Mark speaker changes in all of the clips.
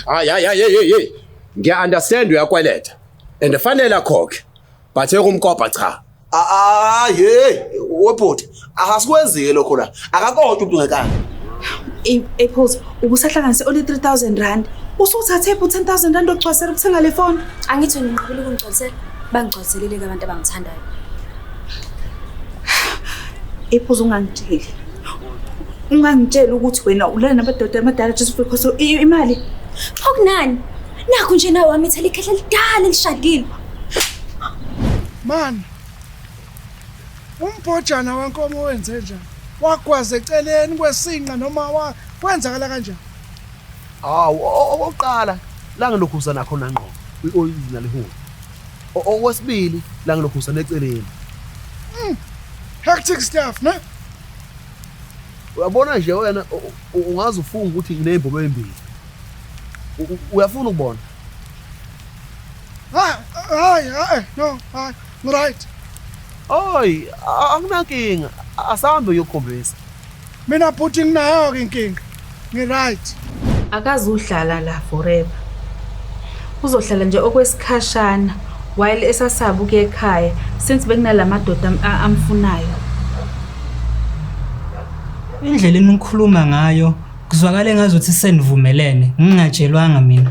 Speaker 1: Hayi hayi hayi hayi hayi. Ngiya understand uyakweleta. And fanele akhokhe. But ekumkopa cha. Ah hey,
Speaker 2: webhuti, akasikwenziwe lokho la. Akakodwa umuntu ngekani. Ey, ey
Speaker 3: phoza, ubusahlanganise only 3000 rand. Usuthathe phi 10000 rand ogcwasela ukuthenga le phone? Angithi wena ngiqabile
Speaker 4: ukungigcwalisela. Bangigcwaliselele-ke abantu abangithandayo.
Speaker 3: Ey phoza ungangitsheli. ungangitshela ukuthi wena ulala nabadoda amadala just because imali xa kunani
Speaker 4: nakho nje nawe wami ithela ikhehla lidala elishadile
Speaker 5: mani umbhojana wenkomo wenze njani wagwaza eceleni kwesinqa noma kwenzakala kanjani hawu okokuqala
Speaker 2: la ngilokhu usanakho nangqobo kwi-oyili nalihuni okwesibili la ngilokhu usaneceleni
Speaker 5: Hectic stuff, ne? Uyabona
Speaker 2: nje wena ungaze ufunge ukuthi nginezimbobo ezimbili. Uyafuna ukubona?
Speaker 5: Hayi, hayi, hayi, no, hayi. Right. Oy,
Speaker 2: akunankinga. Asambe uyokhombisa. Mina
Speaker 5: bhuti nginayo ke inkinga. Ngi right. Akazuhlala
Speaker 3: la forever. Uzohlala nje okwesikhashana while esasaba ukuya ekhaya since bekunalamadoda am- a- amfunayo.
Speaker 6: Indlela enikhuluma ngayo kuzwakala engazuthi senivumelene ngingatshelwanga mina.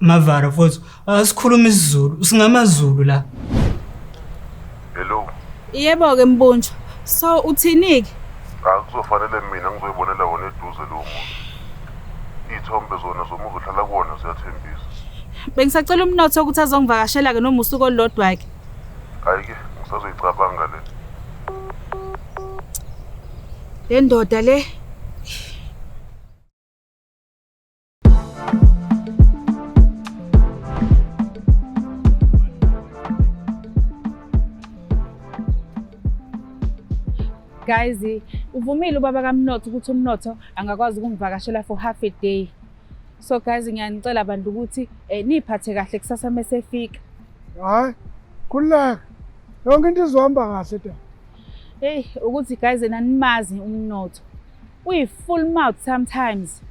Speaker 6: Mavara mfowethu, asikhuluma isiZulu, singamaZulu la. Hello.
Speaker 7: Yebo ke
Speaker 3: Mbunjwa. So uthini-ke? Akuzofanele
Speaker 7: mina ngizoyibonela wona eduze lowo muntu. Iy'thombe zona zomuzi ohlala kuwona ziyathembisa. Bengisacela
Speaker 3: umnotho ukuthi azongivakashela-ke noma usuku olulodwa-ke. Hhayi-ke
Speaker 7: ngisazoyicabanga le. Le
Speaker 3: ndoda le guys uvumile ubaba kamnotho ukuthi umnotho angakwazi ukungivakashela for half a day so guys ngiyanicela bantu ukuthi eh, niphathe kahle kusasa mesefika hayi
Speaker 5: khululeka yonke into izohamba kahle da hey
Speaker 3: ukuthi guys nanimazi umnotho Uyi full mouth sometimes.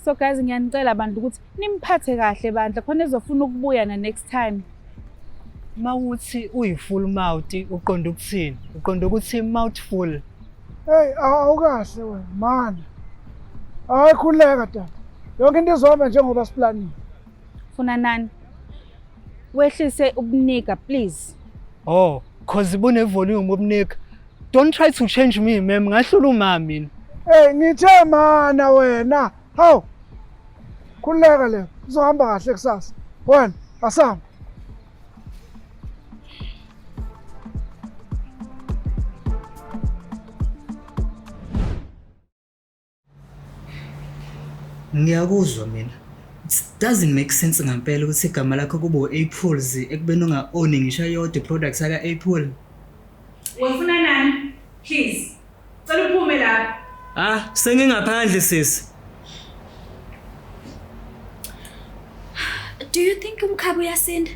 Speaker 3: So guys ngiyanicela abantu ukuthi nimphathe kahle bandla khona ezofuna ukubuya na next time.
Speaker 6: Mawuthi uyi full mouth uqonda ukuthini? Uqonda ukuthi mouth full. Hey
Speaker 5: awukahle wena mana. Hayi khuleka tata. Yonke into izohamba njengoba siplanile. Funa
Speaker 3: nani? Wehlise ubunika please. Oh,
Speaker 6: cause bune volume ubunika. Don't try to change me ma'am, ngahlula uma mina. Hey ngithe
Speaker 5: mana wena. Haw. Khuleka le. Uzohamba kahle kusasa. Wena asam.
Speaker 6: Ngiyakuzwa mina. It doesn't make sense ngempela ukuthi igama lakho kube u-Apples ekubeni unga-own ngisho yodwa i-product yaka-Apple. Wafuna
Speaker 3: nani? Please. Cela uphume lapha. Ah, sengingaphandle
Speaker 6: sisi.
Speaker 4: Do you think umkhaba uyasinda?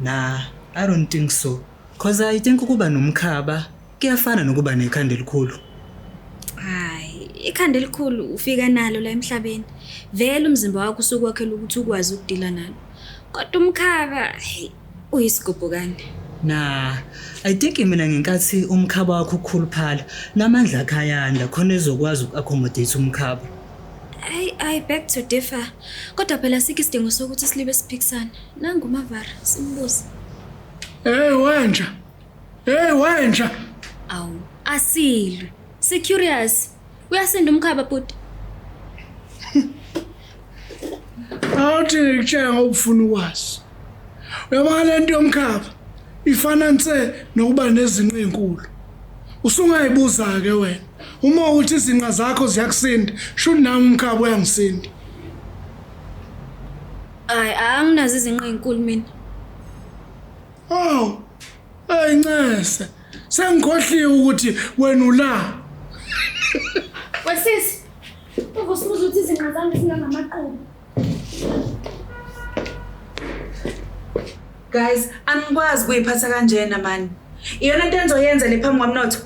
Speaker 6: Nah, I don't think so. Cause I think ukuba nomkhaba kuyafana nokuba nekhanda elikhulu. Hayi,
Speaker 4: ikhanda elikhulu ufika nalo la emhlabeni. Vele umzimba wakho usuke wakhela ukuthi ukwazi ukudila nalo. Kodwa umkhaba, hey, uyisigubhukane. Nah,
Speaker 6: I think mina ngenkathi umkhaba wakho ukhuluphala, namandla akhe ayanda khona ezokwazi uku-accommodate umkhaba. Ayi
Speaker 4: ayi back to differ. Kodwa phela sikho isidingo sokuthi silibe siphikisana. Nangu uMavara simbuze. Hey
Speaker 5: wenja. Hey wenja. Awu
Speaker 4: asilwe. Si curious. Uyasinda umkhaba bhuti.
Speaker 5: Awuthi ngikutshela ngokufuna ukwazi. Uyabona le nto yomkhaba ifana nse nokuba nezinqa ezinkulu. Usungayibuza-ke wena uma uthi izinqa zakho ziyakusinda shuthi nami umkhaba uyangisinda. Hayi
Speaker 4: anginazo izinqa ezinkulu mina.
Speaker 5: Aw, eyi ncese sengikhohliwe ukuthi wena ula. Wesisi,
Speaker 4: uvusibuza ukuthi izinqa zami zingangamaqobo.
Speaker 3: Guys, angikwazi kuyiphatha kanjena mani. Iyona into engizoyenza le phambi kwamnotho.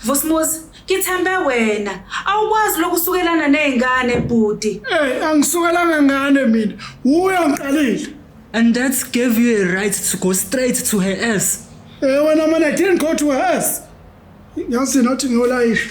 Speaker 3: Vusimuzi, ngithembe wena. Awukwazi lokusukelana nezingane bhuti. Hey, angisukelanga
Speaker 5: ngane mina. Uya ngiqalile. And
Speaker 6: that gave you a right to go straight to her ass. Eh wena mana I
Speaker 5: didn't go to her ass. Yazi nathi ngiyolayisha.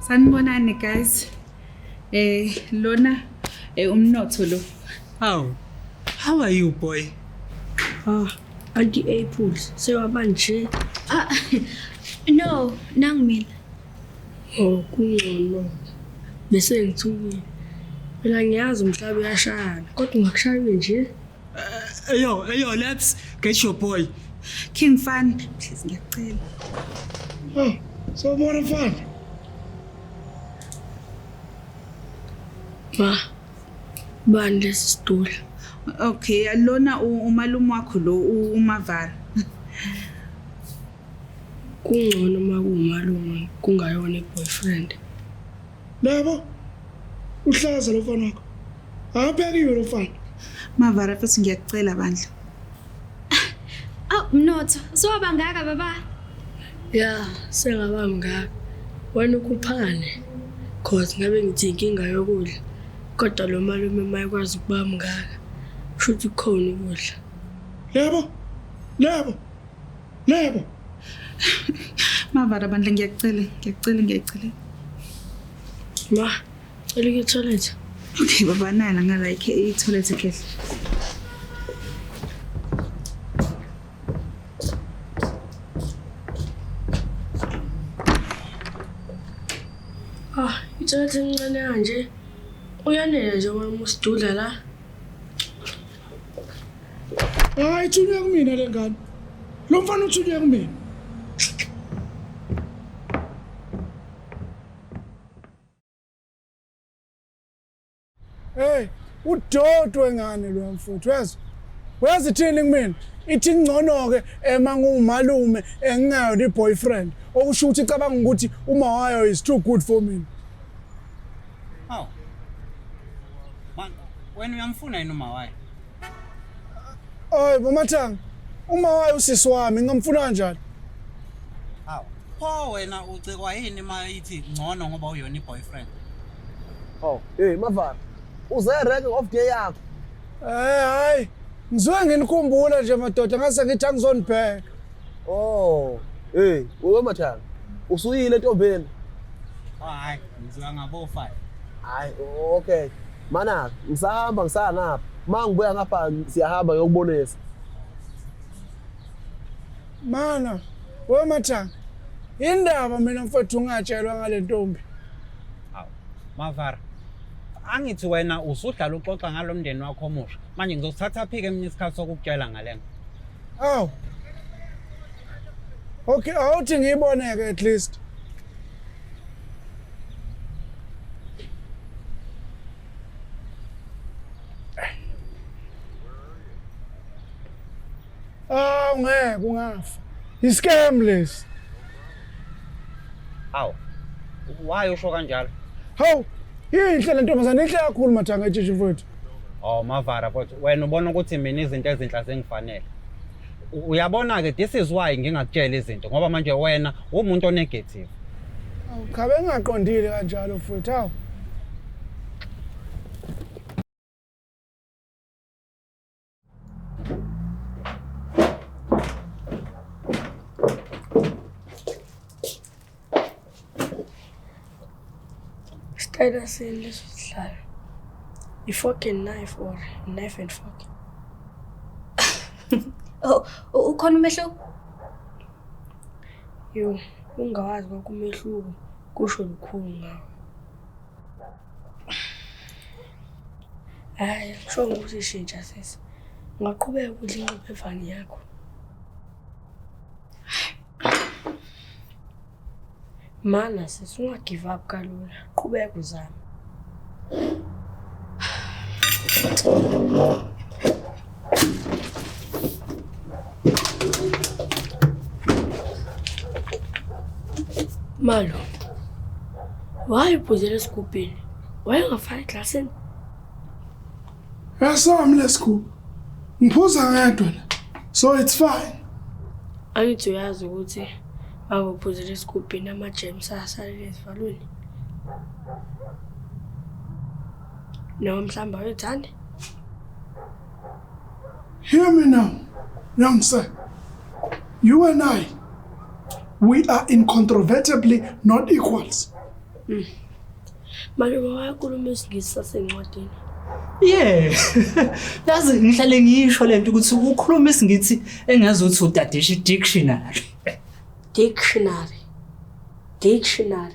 Speaker 3: sanibonani guys eh lona eh umnotho lo How?
Speaker 6: How are you, boy? Ah, anti
Speaker 8: apples sewaba nje. Ah,
Speaker 4: no, nangu mina. Oh, kungcono.
Speaker 8: Bese ngithukile. Phela ngiyazi umhlaba uyashayana, kodwa ungakushayile nje. Eyo,
Speaker 6: eyo, let's get your boy. King Fan,
Speaker 3: please ngiyacela. Oh,
Speaker 5: so more fun.
Speaker 8: Ma, bani lesi stool? Okay,
Speaker 3: alona umalume wakho lo uMavara.
Speaker 8: Kungcono uma kuwumalume kungayona i-boyfriend. Nabo
Speaker 5: uhlaza lo mfana wakho. Awuphekiwe lo mfana. Mavara futhi
Speaker 3: ngiyakucela bandla. Aw
Speaker 4: mnotho, soba ngaka baba. Ya,
Speaker 8: sengaba mngaka. Wena ukhuphane. Cause ngabe ngithi inkinga yokudla. Kodwa lo malume mayekwazi ukuba mngaka. Kusho ukuthi kukhona ukudla. Yebo. Yebo.
Speaker 5: Nabo. Mavara
Speaker 3: bandla ngiyacela, ngiyacela, ngiyacela.
Speaker 8: Ma, cela ke toilet. Okay, baba
Speaker 3: nana nga like i toilet ke.
Speaker 8: Ah, i toilet incane kanje. Uyanele nje wena usidudla la.
Speaker 5: Hayi ithunywe kumina le ngane. Lo mfana uthunywe kumina. Hey, udodwe ngane lo mfuthu yazi. Wazi ithini kumina? Ithi ngcono ke ema ngumalume engingayo ni boyfriend. Okusho ukuthi cabanga ukuthi uma wayo is too good for mina.
Speaker 9: Hawu. Man, wena uyamfuna yini uma waye?
Speaker 5: Ay, mama Thanga. Uma waye usisi wami ngamfuna kanjani?
Speaker 9: Hawu. Pho wena ucikwa yini uma ithi ngcono ngoba uyona iboyfriend? Oh,
Speaker 2: hey Mavara. Uze rank of day yakho. Eh, hayi.
Speaker 5: Ngizwe nginikhumbula nje madoda ngase ngithi angizonibheka. Oh.
Speaker 2: Hey, wewe mathanga. Usuyile ntombeni. Oh, hayi,
Speaker 9: ngizoya ngabo 5. Hayi,
Speaker 2: okay. Mana, ngisahamba ngisaya ngapha. Uma ngibuya ngapha siyahamba ngiyokubonisa.
Speaker 5: Mana, wewe mathanga. Indaba mina mfowethu ungatshelwa ngale ntombi. Hawu,
Speaker 9: Mavara. Angithi wena usudlala uxoxa ngalomndeni wakho omusha. Manje ngizosithatha phike mina isikhathi sokukutshela ngalena. Aw.
Speaker 5: Okay, awuthi ngiyibone ke at least. Aw ngeke ungafa. Iscam lesi.
Speaker 9: Aw. Why usho kanjalo? Hawu,
Speaker 5: inhle le ntombazane inhle kakhulu mathanga etshishi mfowethu. Oh Mavara
Speaker 9: kodwa wena ubona ukuthi mina izinto ezinhla zingifanele. U- Uyabona ke this is why ngingakutshela izinto ngoba manje wena umuntu onegative. Awuchabe
Speaker 5: ngingaqondile kanjalo mfowethu awu.
Speaker 8: Sicela sini leso sihlalo. I-fork and knife or knife and fork.
Speaker 4: Oh, u- ukhona umehluko?
Speaker 8: Yo, ungawazi konke umehluko kusho lukhulu ngawo. Hayi, kusho ukuthi ishintsha sisi. Ungaqhubeka ukudla ingquphe evani yakho. Mana sisi ungagive up kalula. Qhubeka uzame. Malo. Why uphuzela esigubhini? Wayengafaki eglasini?
Speaker 5: Esami lesigubhu. Ngiphuza ngedwa la. So it's fine. Angithi
Speaker 8: uyazi ukuthi bakuphuzela esigubhini ama-germs asalele ezivalweni. Noma mhlawumbe awethandi?
Speaker 5: Hear me now, young sir. You and I, we are incontrovertibly not equals. Mm.
Speaker 8: Malume wayakhuluma isingisi sasencwadini. Yeah.
Speaker 6: Yazi ngihlale ngisho lento ukuthi ukhuluma isingithi engazi ukuthi udadisha dictionary. Dictionary.
Speaker 8: Dictionary.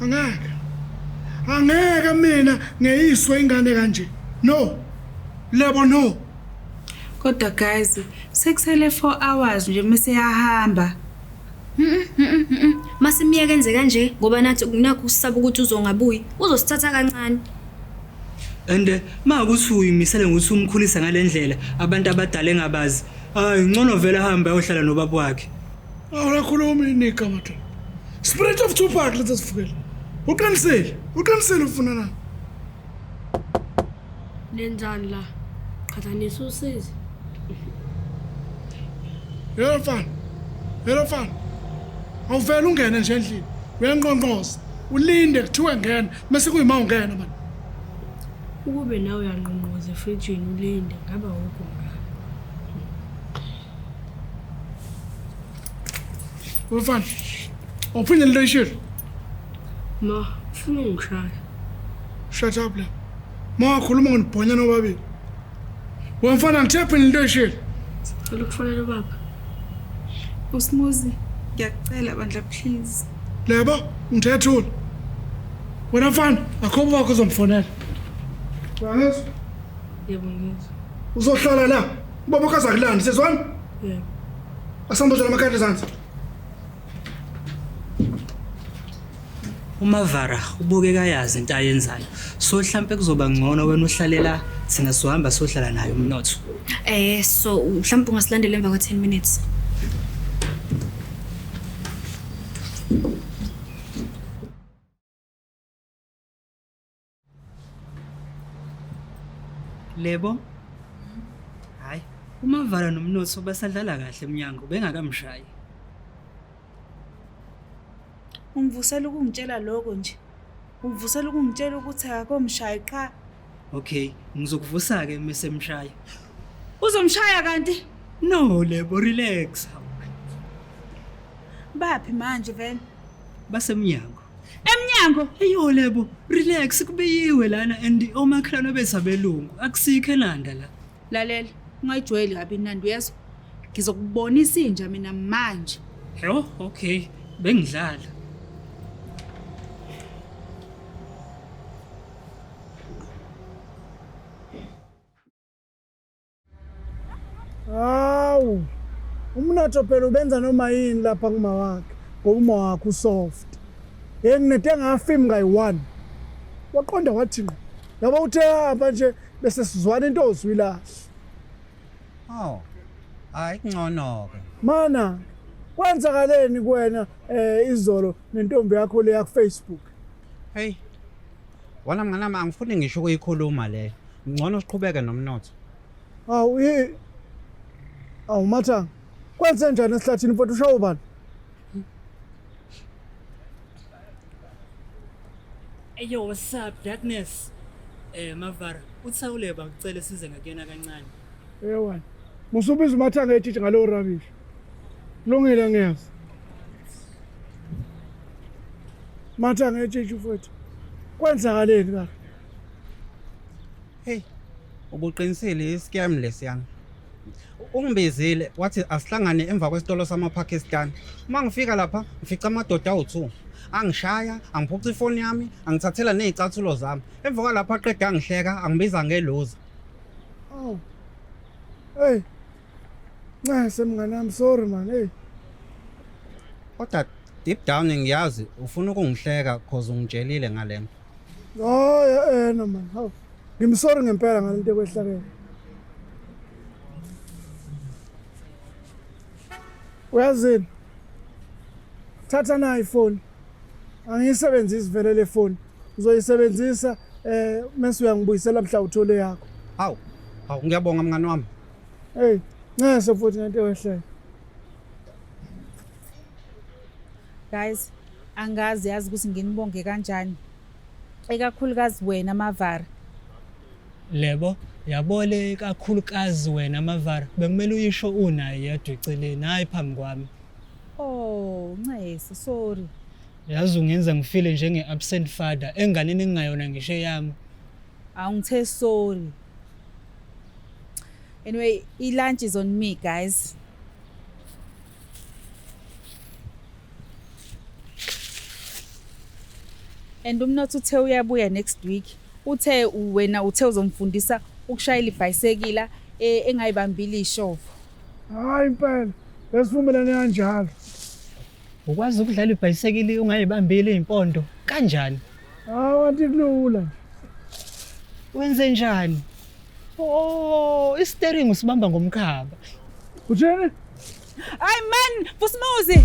Speaker 5: angeke angeke mina ngeyiswe ingane kanje no lebo no kodwa
Speaker 3: guys sekusele 4 hours nje mase yahamba
Speaker 4: masimyeke enze kanje ngoba nathi kunakho usisaba ukuthi uzongabuyi uzosithatha kancane
Speaker 6: and eh, ma ukuthi uyimisele ngokuthi umkhulisa ngalendlela abantu abadala engabazi hayi ngcono vele ahambe ayohlala nobaba wakhe Awulakhulumi
Speaker 5: inika madoda. Spirit of Tupac letha sifukele. Uqinisile. Uqinisile ufuna na?
Speaker 8: Nenzani la? Qhathanisa usizi.
Speaker 5: Yebo mfana. Yebo mfana. Awuvela ungene nje endlini. Uyanqonqoza. Ulinde kuthiwe ngena. Mase kuyima ungena manje.
Speaker 8: Ukube nawe uyanqonqoza efrijini ulinde ngaba wukho ngaka. Umfana,
Speaker 5: awuphinde into oyishilo.
Speaker 8: Ma, ufuna ungishaya. Shut
Speaker 5: up la. Ma wakhuluma ngonibhonyana obabili. We mfana ngithe phinde into oyishilo. Ngicela ukufonela
Speaker 8: ubaba.
Speaker 3: Usmuzi, ngiyakucela bandla please. Lebo,
Speaker 5: ngithethule. Wena mfana, akho wakho uzomfonela. Ngiyezwa.
Speaker 8: Yebo ngizwa. Uzohlala la.
Speaker 5: Ubaba ukaza kulanda sezwana? Yebo.
Speaker 8: Asamboza
Speaker 5: lamakhadi ezansi.
Speaker 10: UMavara ubukeka yazi into ayenzayo. So mhlambe kuzoba ngcono wena uhlalela thina sohamba sohlala naye umnotho. Eh so
Speaker 4: mhlawumbe ungasilandela emva kwa 10 minutes.
Speaker 10: Lebo. Hayi, uMavala nomnotho basadlala kahle emnyango bengakamshayi.
Speaker 3: Ungivusela ukungitshela lokho nje. Ungivusela ukungitshela ukuthi akakomshayi qha. Okay,
Speaker 10: ngizokuvusa ke mase mshaya. Uzomshaya
Speaker 3: kanti? No, Lebo
Speaker 10: relax.
Speaker 3: Baphi manje vele? Basemnyango.
Speaker 10: Emnyango.
Speaker 3: Eyo lebo,
Speaker 10: relax kubiyiwe lana and omakhelwane bezabelungu. Akusikho elanda la. Lalela,
Speaker 3: ungayijwayeli kabi inandi uyezwa. Ngizokubonisa inja mina manje. Yho,
Speaker 10: okay. Bengidlala.
Speaker 5: Hawu. Umnotho phela ubenza noma yini lapha kuma wakhe. Ngoba uma wakhe usoft. Hey nginede ngafim ngayi one. Waqonda wathi ngqo. Yabo uthe hamba nje bese sizwana into ozwilahle.
Speaker 9: Hawu. Hayi kungcono ke. Mana
Speaker 5: kwenzakaleni kuwena eh izolo nentombi yakho le ya ku Facebook? Hey.
Speaker 9: Wala mngane wami angifuni ngisho ukuyikhuluma leyo. Ngcono siqhubeke nomnotho. Awu i
Speaker 5: Awu matha. Kwenze njani esihlathini mfowethu ushawa ubani?
Speaker 10: Eyo what's up darkness? Eh Mavara, uthawule bakucela size ngakuyena kancane. Ewa.
Speaker 5: Musubiza umathanga etshitshi ngalowo rubbish. Lungile ngiyaz. Matha ngetshintsha mfowethu. Kwenzakaleni ka? Hey.
Speaker 9: Ubuqinisile iscam lesiyana. Ungibizile wathi asihlangane emva kwesitolo samaPakistan. Uma ngifika lapha ngifica amadoda awu-2. Angishaya, angiphuca ifoni yami, angithathela nezicathulo zami. Emva kwalapho aqeda angihleka, angibiza ngeluza.
Speaker 5: Oh. Hey, Nxese mngane wami sorry man hey.
Speaker 9: Kodwa deep down ngiyazi ufuna ukungihleka cause ungitshelile ngalento. Oh yeah,
Speaker 5: eh no man. Hawu. Ngimsorry ngempela ngalento ekwehlakele. Uyazini? Thatha nayi ifoni. Angiyisebenzisi vele le foni. Uzoyisebenzisa eh mase uyangibuyisela mhla uthole yakho. Hawu. Hawu
Speaker 9: ngiyabonga mngane wami. Hey,
Speaker 5: nxese futhi ngento wehlele.
Speaker 3: Guys, angazi yazi ukuthi nginibonge kanjani. Ekakhulukazi wena Mavara.
Speaker 10: Lebo, yabole ikakhulukazi wena Mavara. Bekumele uyisho unaye yedwa eceleni, hayi phambi kwami. Oh,
Speaker 3: nxese, sorry. Yazi ungenza
Speaker 10: ngifile njenge absent father enganeni engingayona ngisho eyami. Awungithe
Speaker 3: sorry. Anyway, i-lunch is on me guys. And umnotho uthe uyabuya next week. Uthe wena uthe uzomfundisa ukushayela ibhayisekila eh, engayibambile ishovo. Hayi
Speaker 5: impela. Besivumelane kanjalo.
Speaker 10: Ukwazi ukudlala ibhayisekili ungayibambile impondo kanjani? Hawu anti
Speaker 5: kulula nje.
Speaker 10: Wenze njani? Oh, i-steering usibamba ngomkhaba. Uthini?
Speaker 5: Hayi man,
Speaker 10: Vusimuzi.